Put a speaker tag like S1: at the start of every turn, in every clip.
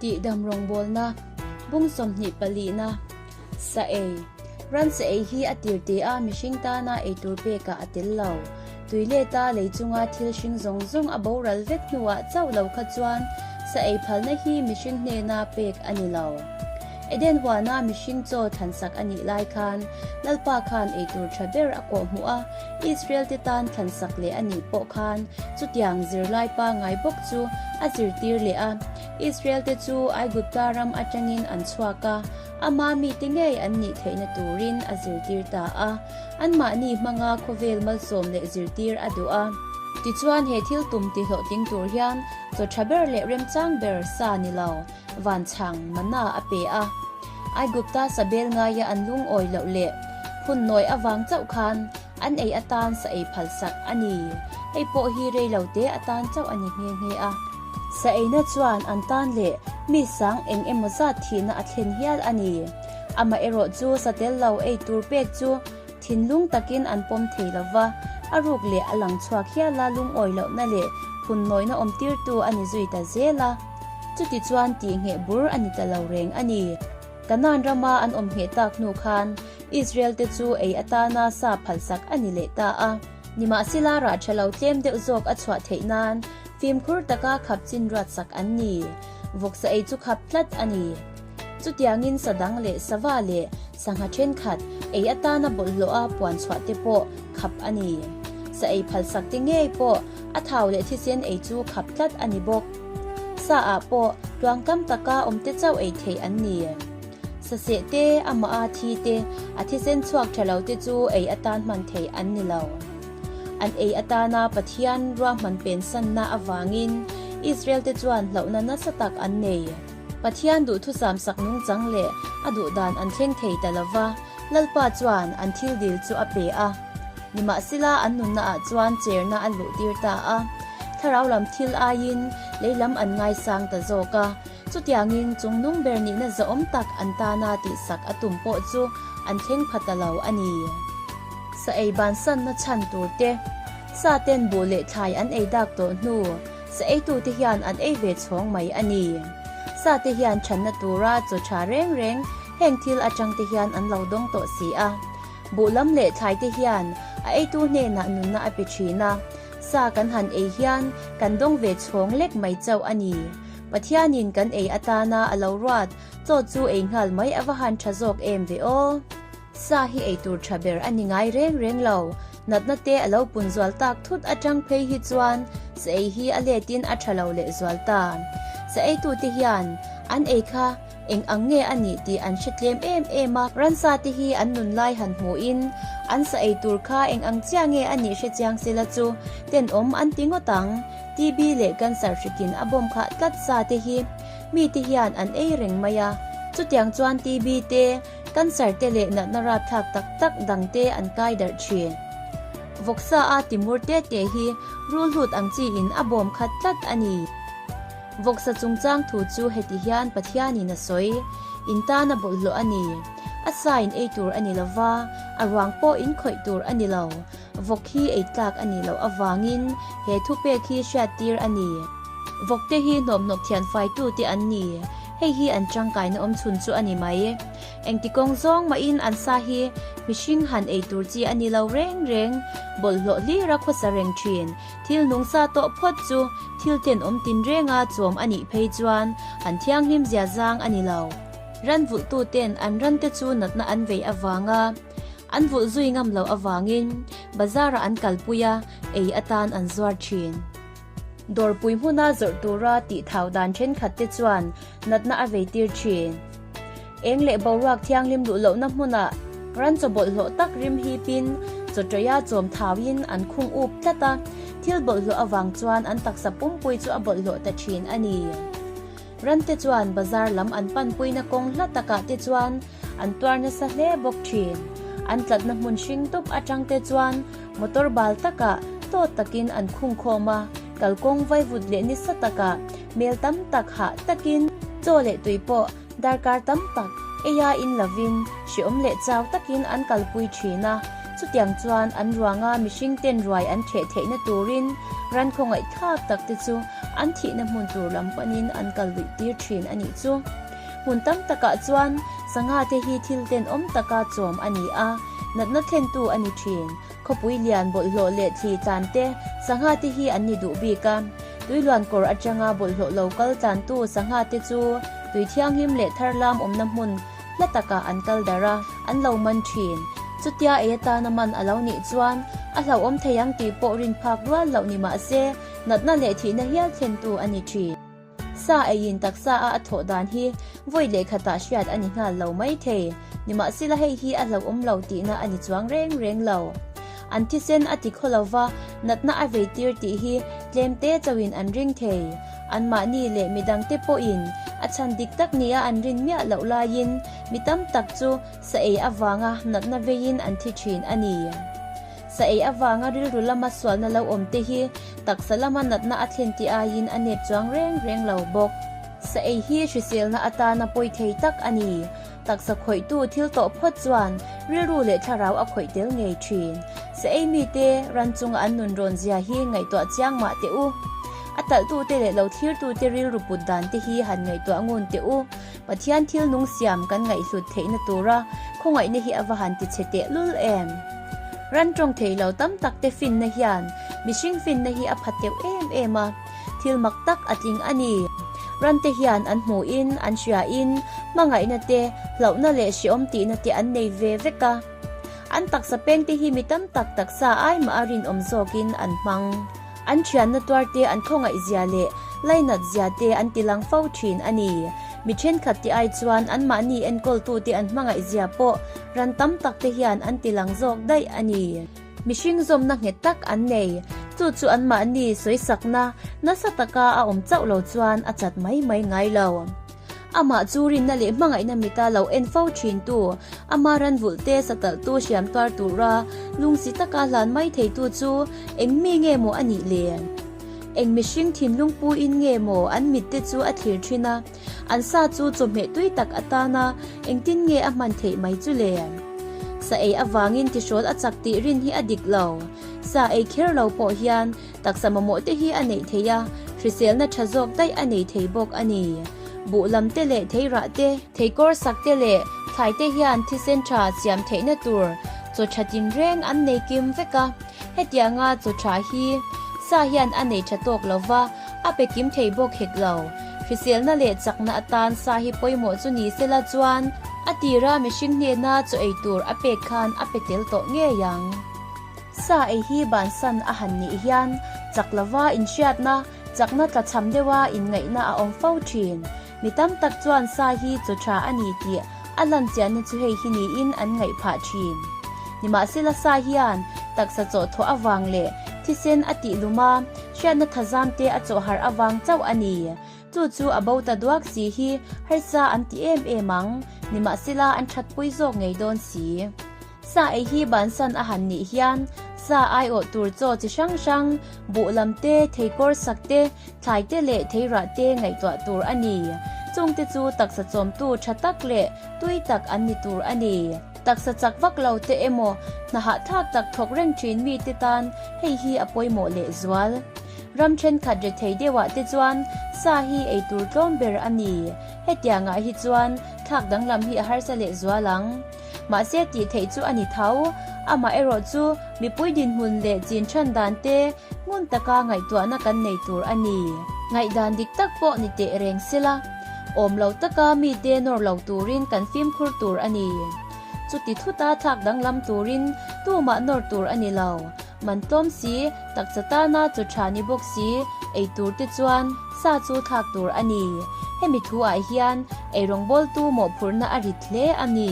S1: Tih dam rawngbawlna, bung sawmhnih palihna, sa ei, ran sa ei hi a tir te a, mihring tana eitur pekah a tel lo. Tui leta lei chunga thil hring zawng zawng a boral vek hnuah chauh lo kha chuan sa ei phalna hi mihring hnena pek a ni lo. Eden huana mihring chaw thlansak a nih lai khan Lalpa khan eitur tha ber a kawh hmu a, Israelte tan thlansak leh a nih pawh khan. Chutiang zirlai pa ngai bawk chu a zirtir leh a. Israelte chu Aigupta ram atangin an chhuak a, ama mite ngei an nih theihna turin a zirtir ta a. Anmahni hmanga khawvel malsawm leh zirtir a duh a. Tichuan, he thil tum tihlawh ting tur hian chaw tha ber leh remchang ber sa ni lo. Vanchhang manna a pe a. Aigupta sabel ngaia an lungawi loh leh hun nawi avang chauh khan an ei atan sa ei phalsak a ni. Hei pawh hi rei lo te atan chauh a ni nghe nghe a. Sa eina chuan an tan leh mi sang eng emaw zat thihna a thlen hial a ni. Amah erawh chu sa tel lo ei tur pek chu thinlung takin an pawm thei lo va, a ruk leh a lang chhuak hiala lungawi lohna leh hun nawina awm tirtu a ni zui ta zel a. Chuti chuan tih ngheh bur a ni ta lo reng a ni. Kanaan rama an awm ngheh tak hnu khan Israel te chu ei atana sa phalsak a ni leh ta a. Nimahsela rah tha lo tlem deuh zawk a chhuah theih nan fimkhur taka khap chinruat sak an ni. Vawksa ei chu khap tlat a ni. Chutiangin sadang leh sava leh sangha thenkhat ei atana bawlhhlawha puan chhuah te pawh khap a ni. Sa ei phalsak te ngei pawh a thau leh thisen ei chu khap tlat a ni bawk. Sa ah pawh tluangkam taka awm te chauh ei theih an ni. Sa seh te amaha thi te a thisen chhuak tha lo te chu ei atan hman theih an ni lo. An ei atana Pathian ruahman pensanna avangin Israel te chuan hlauhna nasa tak an nei. Pathian duhthucham sak nungchang leh a duhdan an thleng thei ta lo va, Lalpa chuan an thil dil chu a pe a. Nimahsela, an nunna ah chuan cherna a luhtir ta a, thlarau lam thil aiin lei lam an ngaisang ta zawk a. Chutiangin chungnung ber nihna zahawm tak an tana tihsak a tum pawh chu an thleng pha ta lo a ni. Sa ei bansanna chhan tur te, sa ten buh leh thlai an ei dak tawh hnu, Sa eitute hian an ei ve chhawng mai a ni. Sa te hian chhanna tura chaw tha reng reng, heng thil atang te hian an lo dawng tawh si a. Buh lam leh thlai te hian a eitu hnenah nunna a pe thin a. Sa kan han ei hian kan dawng ve chhawng lek mai chauh a ni. Pathianin kan ei atana a lo ruat chaw chu ei nghal mai a va han tha zawk em ve aw. Sa hi ei tur tha ber a ni ngai reng reng lo. Natna te a lo pun zual tak thut atang phei hi chuan sa ei hi a let in a tha lo leh zual ta. Sa ei tu te hian an ei kha eng ang nge a nih tih an hre tlem em em a. Ransa te hi an nun lai han hmuh in an sa ei tur kha eng ang chiah nge a nih hre chiang se la chu ten awm an ti ngawt ang. TV leh cancer hrik in a bawm khah tlat sa te hi mi te hian an ei reng mai a. Chutiang chuan TV te. cancer te leh natna rapthlak tak tak dang te an kai darh thin. Vawksa a timur te te hi rul hlut ang chi in a bawm khat tlat a ni. Vawksa chungchang thu chu heti hian Pathian in a sawi in tan a bawlhhlawh a ni. A sa in ei tur a ni lo va, a ruang pawh in khawih tur a ni lo. Vawk hi ei tlak a nih loh avang in he thupek hi hriat tir a ni. Vawk te hi hnawp hnawp thian fai tu te an ni. Hei hi an tangkaina awm chhun chu a ni mai. Engti kawng zawng mahin an sa hi mihring han ei tur chi a ni lo reng reng. Bawlhhlawh hlir a khawsa reng thin. Thil nungsa tawh phawt chu thil ten awm tinreng a chawm a nih phei chuan an thianghlim zia zang a ni lo. Ran vulhtu ten an ran te chu natna an vei avang a, an vulh zui ngam loh avangin bazar ah an kalpui a, ei atan an zuar thin. Dawrpui hmuna zawrh tura tihthau dan thenkhatte chuan natna a vei tir thin. Eng leh boruak thianghlim luh lohna hmuna ran chawbawlh hlawh tak rimhip in chawtawia chawm thau in an khung up tlat a. Thil bawlh hlawh avang chuan an taksa pumpui chu a bawlh hlawh ta thin a ni. Rante chuan bazar lam an panpuina kawng hla takah te chuan an tuar nasa hle bawk thin. An tlatna hmun hring dup atangte chuan motor bal takah tawt takin an khung khawm a, kal kawng vaivut leh nisa takah hmel tam tak hah takin, chaw leh tui pawh darkar tam tak eia in lovin hreawm leh chau takin an kalpui thin a, Chutiang chuan an ruanga mihring ten ruai an theh theihna turin ran khawngaih thlak tak te chu an thihna hmun tur lam panin an kal luih tir thin a nih chu. Hmun tam takah chuan sangha te hi thil ten awm taka chawm a ni a, natna thlentu a ni thin. Khawpui lian bawlhhlawh leh thli tlan te sangha te hi an ni duh bik a. Tui luan kawr atanga bawlhhlawh lo kal tlantu sangha te chu tui thianghlim leh tharlam awmna hmun hla takah an kal darh a, an lo man thin. Chutia ei atana man a lo nih chuan a hlauhawm thei ang tih pawh rin phak rual loh ni mah se, natna leh thihna hial thlentu a ni thin. Sa eiin taksa a a thawh dan hi vawi lehkhatah hriat a ni nghal lo maithei, nimahsela hei hi a hlauhawm lo tihna a ni chuang reng reng lo. An thisen a ti kho lo va, natna a vei tir tih hi tlem te chauhin an ring thei. Anmahni leh mi dangte pawhin a chhan dik tak nia an rin miah loh laiin mi tam tak chu sa ei avanga natna veiin an thi thin a ni. Sa ei avanga rilru lama sualna lo awm te hi taksa lama natna a thlen tih aiin a nep chuang reng reng lo bawk. Sa ei hi hriselna atana pawi thei tak a ni. Taksa khawihtu thil tawh phawt chuan rilru leh thlarau a khawih tel ngei thin. Sa ei mite ran chunga an nun rawn zia hi ngaihtuah chiang mah teh u. A talhtute leh lo thlirtute rilru put dan te hi han ngaihtuah ngun teh u. Pathian thil nung siam kan ngaihhlut theihna tura khawngaihna hi a va han ti chhe tehlul em! Ran tawng theih lo tam takte finna hian mihring finna hi a pha teuh em em a. Thil mak tak a tling a ni. Rante hian an hmuh in, an hria in, hmangaihna te, hlauhna leh hreawm tihna te an nei ve vek a. An taksa peng te hi mi tam tak taksa ai mah a rinawm zawk in an hmang. An thianna tuar te, an khawngaihzia leh lainatzia te an ti lang fo thin a ni. Mi thenkhat te ai chuan anmahni enkawltu te an hmangaihzia pawh ran tam tak te hian an ti lang zawk daih a ni. Mihring zawmna nghet tak an nei. Chu chu anmahni sawisakna nasa taka a awm chauh lo chuan a chat mai mai ngai lo. Amah chu rinna leh hmangaihna mita lo en fo thintu, ama ranvulte satalhtu hriamtuar tura lungsi taka hlan mai theitu chu eng mi nge maw a nih le? Eng mihring thinlungpuiin nge maw an mitte chu a thlir thin a? An sa chu chawhmeh tui tak a tan a, engtin nge a hman theih mai chu le? Sa ei avangin tihrawl a chak tih rin hi a dik lo. Sa ei kher lo pawh hian taksa mamawh te hi a neih theih a, hriselna tha zawk daih a nei thei bawk a ni. Buh lam te leh thei rah te, thei kawr sak te leh thlai te hian thisen tha siam theihna tur chaw tha tin reng an nei kim vek a, hetianga chaw tha hi sa hian a nei tha tawk lo va, A pe kim thei bawk hek lo. Hriselna leh chakna atan sa hi pawimawh chu ni se la chuan a tir a mihring hnena chaw ei tur a pek khan a pe tel tawh ngei ang. Sa ei hi bansan a han nih hian chak lova inhriatna, chakna tla chham deuha inngaihna a awm fo thin. Mi tam tak chuan sa hi chaw tha a ni tih a hlan chiahna chu hei hi niin an ngaih phah thin. Nimahsela sa hian taksa chaw thawh avang leh thisen a tih lum a, hriatna thazam te a chaw harh avang chauh a ni. Chu chu a bo ta duak si hi harsa an ti em em ang, nimahsela an thatpui zawk ngei dawn si. Sa ei hi bansan a han nih hian sa aiawh tur chaw chi hrang hrang, buhlam te, thei kawr sak te, thlai te leh thei rah te ngaihtuah tur a ni. Chung te chu taksa chawmtu tha tak leh tui tak an ni tur a ni. Taksa chak vak lo te emaw, hna hahthlak tak thawk reng thin mi te tan hei hi a pawimawh leh zual. Ram thenkhat re thei deuhah te chuan sa hi ei tur tlawm ber a ni. Hetiangah hi chuan thlak danglam hi a harsa leh zual ang. Mahse tih theih chu a ni thau. Amah erawh chu mipui dinhmun leh chin chhan dan te hmun taka ngaihtuahna kan nei tur a ni. Ngaihdan dik tak pawh ni teh reng sela, awm lo taka mite nawr lo turin kan fimkhur tur a ni. Chuti thuta thlak danglam turin tumah nawr tur a ni lo. Man tlawm si, takcha tana chaw tha ni bawk si, ei tur te chuan sa chu thlak tur a ni. Hemi thu ah hian ei rawngbawl tu mawhphurh na a rit hle a ni.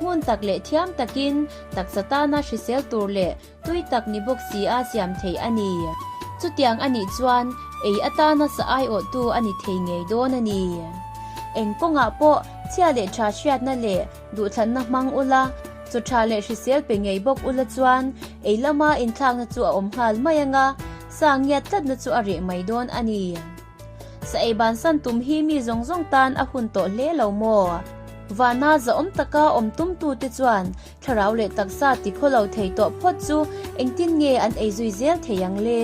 S1: Ngun tak leh thiam takin takcha tana hrisel tur leh tui tak ni bawk si a siam thei a ni. Chutiang a nih chuan ei atana sa aiawh tu a ni thei ngei dawn a ni. Eng kawngah pawh chhia leh tha hriat na leh Duhthlanna hmang ula, chaw tha leh hrisel pe ngei bawk ula chuan ei lama inthlakna chu a awm nghal mai anga sa ngiat tlatna chu a reh mai dawn a ni. Sa ei ban san tum hi mi zawng zawng tan a hun tawh hle lo maw? Vana zahawm taka awm tum tu te chuan thlarau leh taksa ti khaw lo thei tawh phawt chu engtin nge an ei zui zel thei ang le?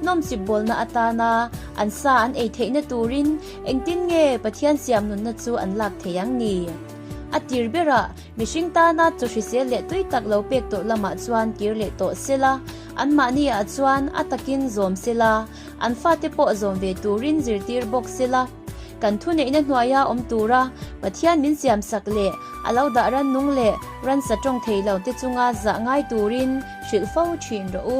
S1: Nawm chip bawlna atana an sa an ei theihna turin engtin nge Pathian siamnunna chu an lak thei ang ni? A tir berah, mihring tana chaw hrisel leh tui tak lo pek tawh lamah chuan kir leh tawh se la, anmahni ah chuan a takin zawm se la, an fate pawh zawm ve turin zirtir bawk se la. Kan thuneihna hnuaia awm tura Pathian min siamsak leh a lo dah rannung leh ransa tawng thei lote chunga zah ngai turin hrilh fo thin rawh u.